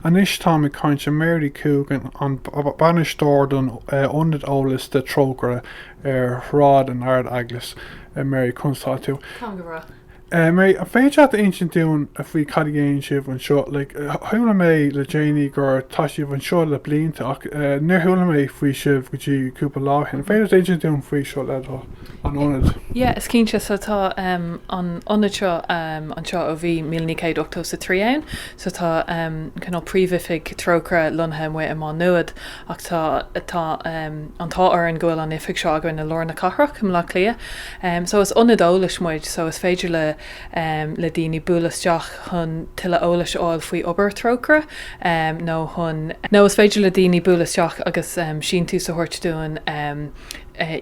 Anois táim ag caint le Mary Coogan, an bainisteoir don ionad eolas do Trócaire ar Shráid an Ard Eaglais. Mary, conas atá tú? Táim go breá. Mary, an féidir leat a insint dúinn faoi cad a dhéanann sibh anseo? Like, chuala mé le déanaí go tá sibh anseo le blianta ach níor chuala mé faoi sibh go dtí cúpla lá ó shin. An féidir leat a insint dúinn faoi seo le do thoil? an ionad. Yeah, is cinnte, so tá ehm an ionad seo ehm anseo ó bhí míle naoi gcéad ochtó is a trí ann, so tá ehm cineál príomhoifig Trócaire lonnaithe amuigh i Má Nuad ach tá tá ehm an t-ádh orainn go bhfuil an oifig seo againn i lár na cathrach i mBleá Cliath ehm so is ionad eolais muid so is féidir le ehm le daoine bualadh isteach chun tuilleadh eolais a fháil faoi obair Thrócaire ehm nó chun nó is féidir le daoine bualadh isteach agus ehm síntiús a thabhairt dúinn ehm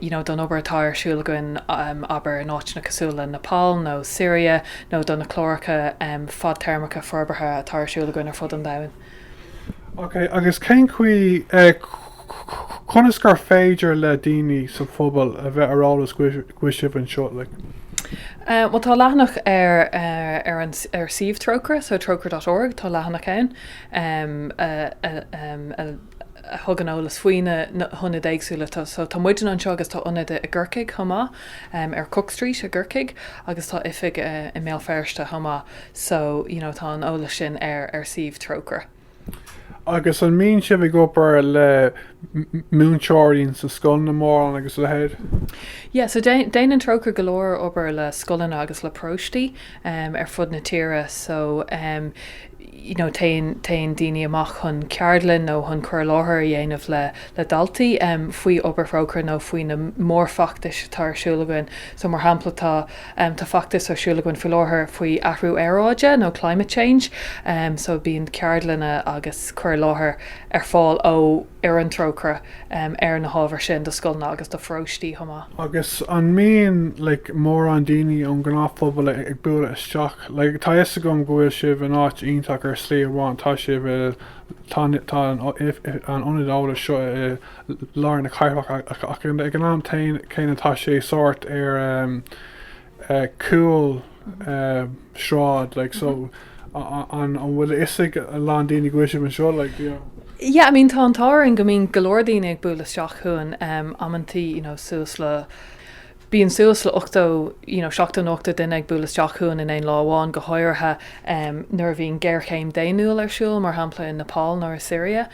you know, don obair atá ar siúl againn, abair, in áiteanna cosúil le Nepal nó Siria, nó do na cláracha fadtéarmacha forbartha atá ar siúl againn ar fud an domhain. Ok, agus cén chaoi, conas gur féidir le daoine sa phobal a bheith ar eolas go bhfuil sibh anseo, like? Bhuel, tá leathanach ar ar an ar suíomh Trócaire, so trócaire dot org, tá leathanach ann a thugann eolas faoi na hionaid éagsúla. So tá muidne anseo agus tá ionad i gCorcaigh chomh maith, ar Cook Street i gCorcaigh, agus tá oifig i mBéal Feirste chomh maith. So, you know, tá an eolas sin ar suíomh Trócaire. Agus an mbíonn sibh ag obair le múinteoirí sna scoileanna mórán agus a leithéid? Yeah, so déanann Trócaire go leor obair le scoileanna agus le paróistí ar fud na tíre. So, you know téann téann daoine amach chun ceardlann nó chun cur i láthair a dhéanamh le le daltaí em faoi obair Thrócaire nó faoi na mórfheachtais atá ar siúl againn so mar shampla tá em tá feachtas ar siúl againn faoi láthair faoi athrú aeráide nó climate change em so bíonn ceardlanna agus cur i láthair ar fáil ó ar an Trócaire ar na hábhair sin do scoileanna agus do pharóistí chomh maith. Agus an mbíonn like mórán daoine ón ngnáthphobal ag bualadh isteach? Like tá 'fhios agam go bhfuil sibh in áit iontach ar shlí amháin, tá sibh i, tá an, tá an ionad eolais seo i lár na cathrach ach ag an am céanna tá sé sórt ar, cúlsráid like so an bhfuil a fhios ag a lán daoine go bhfuil sibh anseo like you know. Yeah I mean tá an t-ádh orainn go mbíonn go leor daoine ag bualadh isteach chugainn amantaí you know suas le bíonn suas le ochtó you know seachtó nó ochtó duine ag bualadh isteach chugainn in aon lá amháin go háirithe nuair a bhíonn géarchéim daonnúil ar siúl mar shampla i Nepal nó i Siria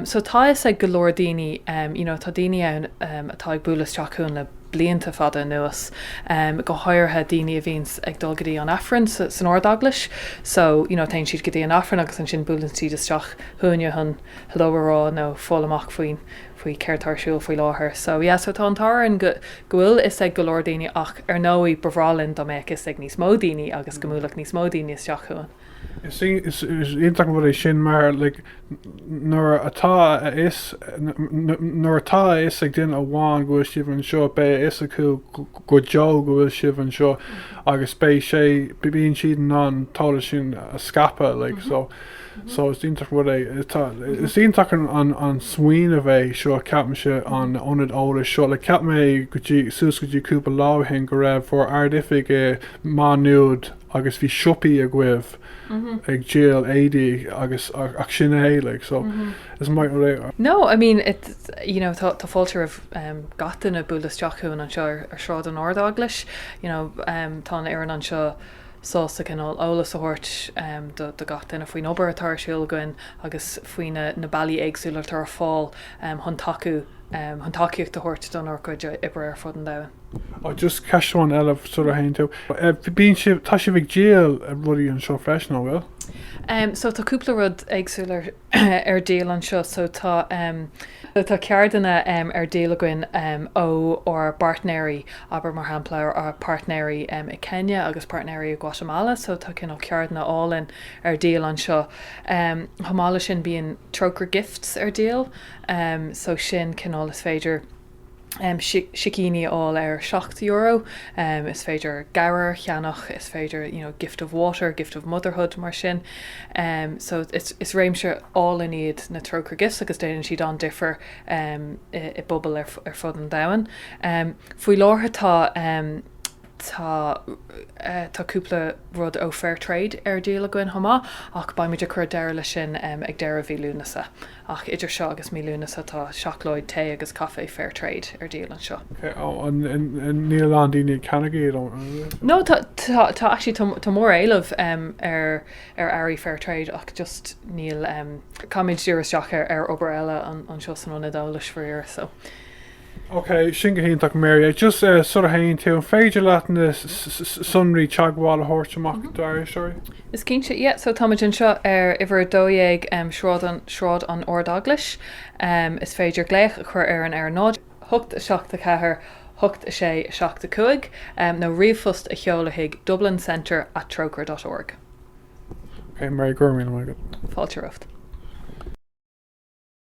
so tá a fhios ag go leor daoine you know tá daoine ann atá ag bualadh isteach chugainn le blianta fada anuas, go háirithe daoine a bhíonns ag dul go dtí an Aifreann san Ard Eaglais so you know téann siad go dtí an Aifreann agus ansin buaileann siad isteach chugainne chun hello a rá nó fáil amach faoin faoi céard tá ar siúl faoi láthair so yeah so tá an t-ádh orainn go go bhfuil a fhios ag go leor daoine ach ar ndóigh ba bhreá linn dá mbeadh a fhios ag níos mó daoine agus go mbuailfeadh níos mó daoine isteach chugainn. Is iontach an rud é sin mar nuair atá a fhios nuair atá a fhios ag duine amháin go bhfuil sibh anseo, beidh a fhios acu go deo go bhfuil sibh anseo agus beidh sé bíonn siad in ann an t-eolas sin a scaipeadh like so so is iontach an rud é tá is iontach an an smaoineamh é seo ceapaimse an ionad eolais seo like cheap mé go dtí suas go dtí cúpla lá ó shin go raibh bhur ardoifig i Maigh Nuad agus bhí siopaí agaibh ag díol éadaí agus ach sin é like so is maith an rud é. No I mean it you know tá tá fáilte roimh em gach duine bualadh isteach chugainn anseo ar ar Shráid an Ardeaglais you know em tá an fhoireann anseo sásta cineál eolas a thabhairt em do do gach duine faoin obair atá ar siúl againn agus faoi na na bealaí éagsúla atá ar fáil chun tacú, chun tacaíocht a thabhairt dár gcuid oibre ar fud an domhain. Ó just ceist amháin eile sula dtéann tú. Bíonn sibh, tá sibh ag díol rudaí anseo freisin, an bhfuil? So tá cúpla rud éagsúil ar díol anseo. So tá, tá cártaí ar díol againn ó ár bpáirtnéirí, abair mar shampla ár páirtnéirí i Kenya agus páirtnéirí i Guatemala. So tá cineál cártaí álainn ar díol anseo. Chomh maith leis sin bíonn Trócaire Gifts ar díol so sin cineál is féidir sicíní a fháil ar seacht euro, is féidir gabhair a cheannach, is féidir you know gift of water, gift of motherhood mar sin. So is réimse álainn iad na Trócaire Gifts agus déanann siad an-difear i bpobail ar fud an domhain. Faoi láthair tá. Tá, tá cúpla rud ó Fair Trade ar díol againn chomh maith ach beidh muid ag cur deireadh leis sin ag deireadh mhí Lúnasa. Ach idir seo agus mí Lúnasa tá seacláid, tae agus caife Fair Trade ar díol anseo. Níl a lán daoine ag ceannach iad. No, tá, tá actually tá, tá mór éileamh ar, ar earraí Fair Trade ach just níl, caithfimid díriú isteach ar, ar obair eile anseo san ionad eolais faraor so. Ok, sin go hiontach. Mary, just eh sula théann tú, an féidir leat na sonraí teagmhála a thabhairt amach dár éisteoirí? Is cinnte, yeah, so táimid anseo ar uimhir 12 em Sráid an Sráid an Ard-Eaglais. Em is féidir glaoch a chur orainn ar a náid a haon a hocht a seacht a ceathair a hocht a sé a seacht a cúig em nó ríomhphost a sheoladh chuig Dublin Centre at Trócaire dot org. Ok, Mary, go raibh míle maith agat. Fáilte romhat.